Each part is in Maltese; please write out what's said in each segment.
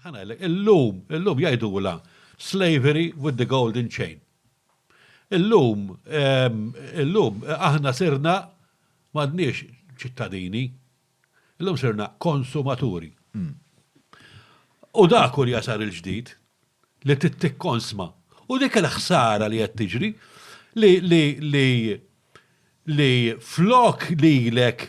Ħa ngħidlek, illum, illum jgħidulha slavery with the golden chain. Illum, ehm, illum aħna sirna m'għadniex ċittadini, illum sirna konsumaturi. Hmm. U dak u li jasar il-ġdid li tittikkonsma. U dik il-ħsara li qed tiġri li li li li flok lilek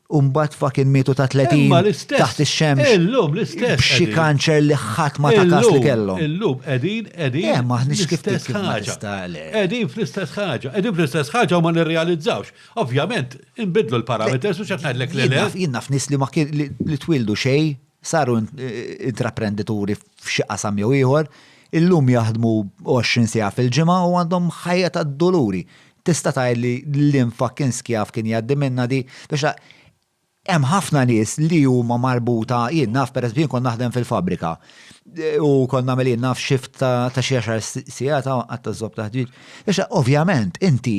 Umbat fakin mietu ta' 30 taħt ix-xemx. Illum l-istess. B'xi kanċer li ħadd ma ta' kas li kellhom. Illum qegħdin qegħdin. Eh, maħniex kif ħaġa. Qegħdin fl-istess ħaġa. Qegħdin fl-istess ħaġa u ma nirrealizzawx. Ovvjament, inbidlu l-parameters u x'qed ngħidlek li le. Jien naf nies li ma kien li twildu xejn, saru intraprendituri f'xi qasam jew ieħor, illum jaħdmu 20 siegħa fil-ġimgħa u għandhom ħajja tad-duluri. Tista' tgħidli liem fucking skjav kien jgħaddi minnha di? Biex tara, hemm ħafna nies li huma marbuta, jien naf pereżempju jien kont naħdem fil-fabbrika u kont nagħmel jien naf shift ta' xi għaxar sigħat għad taż-żopp taħt-ġid. Biex tara, ovvjament, inti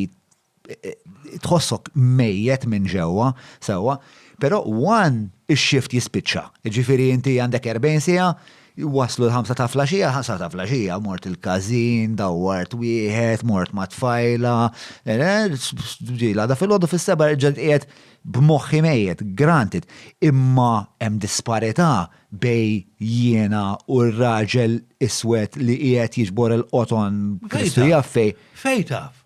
tħossok mejjet minn ġewwa, sewwa, però one ix-shift jispiċċa. Jiġifieri inti għandek 40 siegħa, Waslu l-ħamsa ta' flaxija, ħamsa ta' flaxija, mort il-każin, dawwart wieħed, mort ma' tfajla, ġila da fil-ħodu fis-seba ġed qiegħed b'moħħi mejjet, granted, imma hemm disparità bej jiena u r-raġel iswed li qiegħed jiġbor il-qoton Kristu jaf fejn. Fejn taf?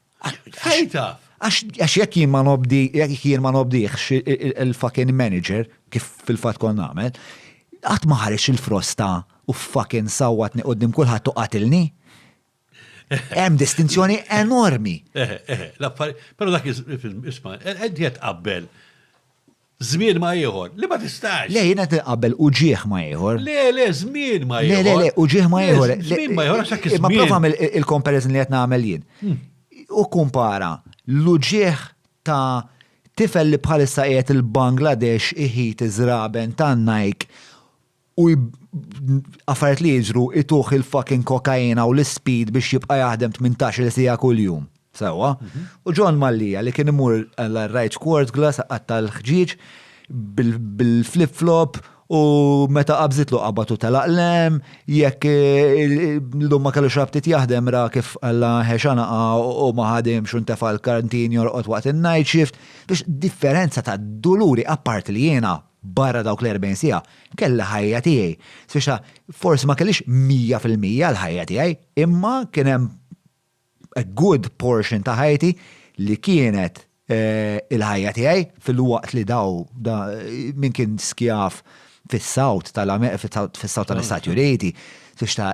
Fejn taf? Għax jekk jien ma nobdi, jekk jien ma nobdiħx il-fucking manager, kif fil-fat kon nagħmel, qatt ma ħareġ il-frosta u fucking sawatni qudiem kulħadd u qatilni. Hemm distinzjoni enormi. Eh, eh, eh, l-affari, però dak isma, qed eh, eh, qabbel Żmien ma' ieħor, li ma tistax. Le, jien qed inqabbel uġigħ ma' ieħor. Le, le, żmien ma' ieħor. Le, le, le, uġigħ ma' ieħor. Żmien ma' ieħor għax hekk iż-żmien. Ma prova għamel il-comparison li qed nagħmel jien. Hmm. U kumpara l-uġigħ ta' tifel li bħalissa qiegħed il-Bangladesh iħit iż-żraben tan-Nike u affarijiet li jiġru ituh il-fucking kokaina u l-ispeed biex jibqa' jaħdem tmintax-il siegħa kuljum. Sewwa. U John Mallia li kien imur għar-Rajċ Quartglass iqatta' l-ħġieġ bil-flip flop u meta qabżitlu qabadtu telaq l-hemm, jekk l-lum ma kellux ftit jaħdem ra kif alla ħe xanaqa u ma ħadimx u ntefa' l-kantin jorqod waqt in-night shift. Biex differenza ta' duluri apparti li jiena Barra dawk l-erbgħin siegħa, kelli ħajja tiegħi, spiċċa forsi ma kellix mija fil-mija l-ħajja tiegħi, imma kien hemm a good portion ta' ħajti li kienet il-ħajja tiegħi filwaqt li daw min kien skjav fis-South tal-Istati Uniti, spiċċa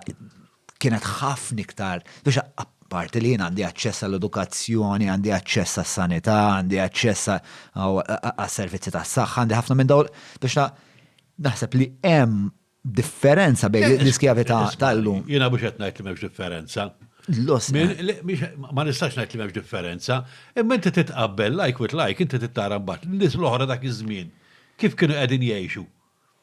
kienet ħafna iktar biex apparti li jien għandi aċċess għall-edukazzjoni, għandi aċċess għas-sanità, għandi aċċess għas-servizzi tas-saħħa, għandi ħafna minn dawl biex naħseb li hemm differenza bejn eh, l-iskjavità eh, tal-lum. Jiena biex qed ngħid li m'hemmx differenza. Ma nistax ngħid li m'hemmx differenza, imma inti titqabbel like with like, inti tittara mbagħad nies l-oħra dak iż-żmien. Kif kienu qegħdin jgħixu?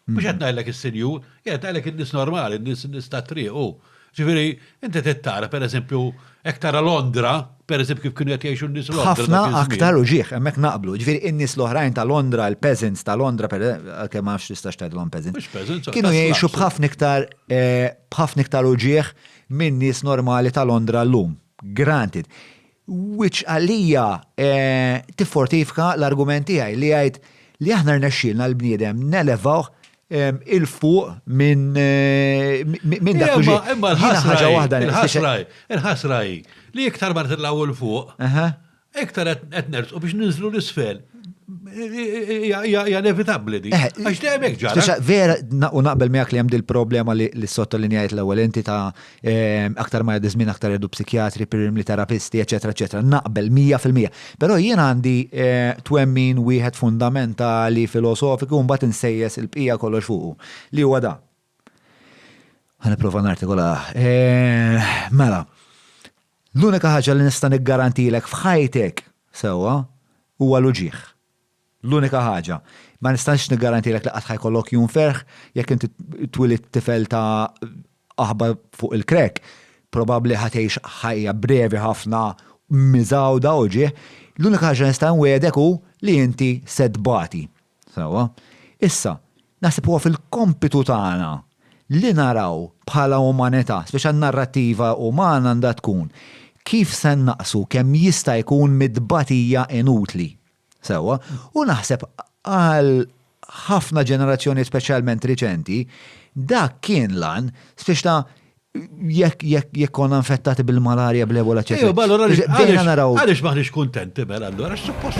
Mhux qed ngħidlek is-sinjur, qed ngħidlek in-nies normali, in-nies tat-triq hu. Ġifieri, inti trid tara, pereżempju, hekk tara Londra, pereżempju kif kienu qed jgħixu n-nies Londra. Ħafna aktar u ġieħ, hemmhekk naqblu. Ġifieri, in-nies l-oħrajn ta' Londra, il-peasants ta' Londra, għalkemm ma nafx tistax tgħidilhom peasants. Mhux peasants. Kienu jgħixu b'ħafna iktar eh, b'ħafna iktar u ġieħ minn nies normali ta' Londra llum. Granted. Which għalija tiffortifka l-argument tiegħi li jgħid li aħna rnexxielna l-bniedem nelevawh 'il fuq minn dak li ġej. Imma l-ħasra hi li iktar ma nitilgħu 'il fuq, iktar qed nersqu biex ninżlu 'l isfel. Hija inevitabbli din. Għax dejjem hekk ġara. Vera, u naqbel miegħek li hemm dil-problema li ssottolinjajt l-ewwel inti ta' Aktar ma jgħaddi żmien aktar jgħaddu psikjatri, pirimli terapisti, eċetera, eċetera. Naqbel 100%. Però jien għandi eh, twemmin wieħed fundamentali filosofiku mbagħad insejjes il-bqija kollox fuqu li huwa da. Ħaniprofa nartikola. Eh, mela, l-unika ħaġa li nista' niggarantilek f'ħajtek sewwa huwa l-uġieħ. L-unika ħaġa, ma nistax niggarantilek li qatt ħa jkollok jum ferħ, jekk inti twilidt tifel ta' aħba fuq il-crack, probabbli ħa tgħix ħajja brevi ħafna miżgħuda u ġieħ. L-unika ħaġa li nista' nwiegħdek hu li inti se tbati. Sewwa. Issa, naħseb huwa fil-kompitu tagħna li naraw bħala umanità, speċi n-narrattiva umana għandha tkun kif se nnaqqsu kemm jista' jkun mit-tbatija inutli. Sewwa, u naħseb għal ħafna ġenerazzjonijiet speċjalment riċenti, dak kien l-għan, biex ta' jekk jekk jekk konna infettati bil-malarja bl-ebola ċe. Ejja, allura bdejna naraw. Għaliex maħniex kuntenti mela allura suppost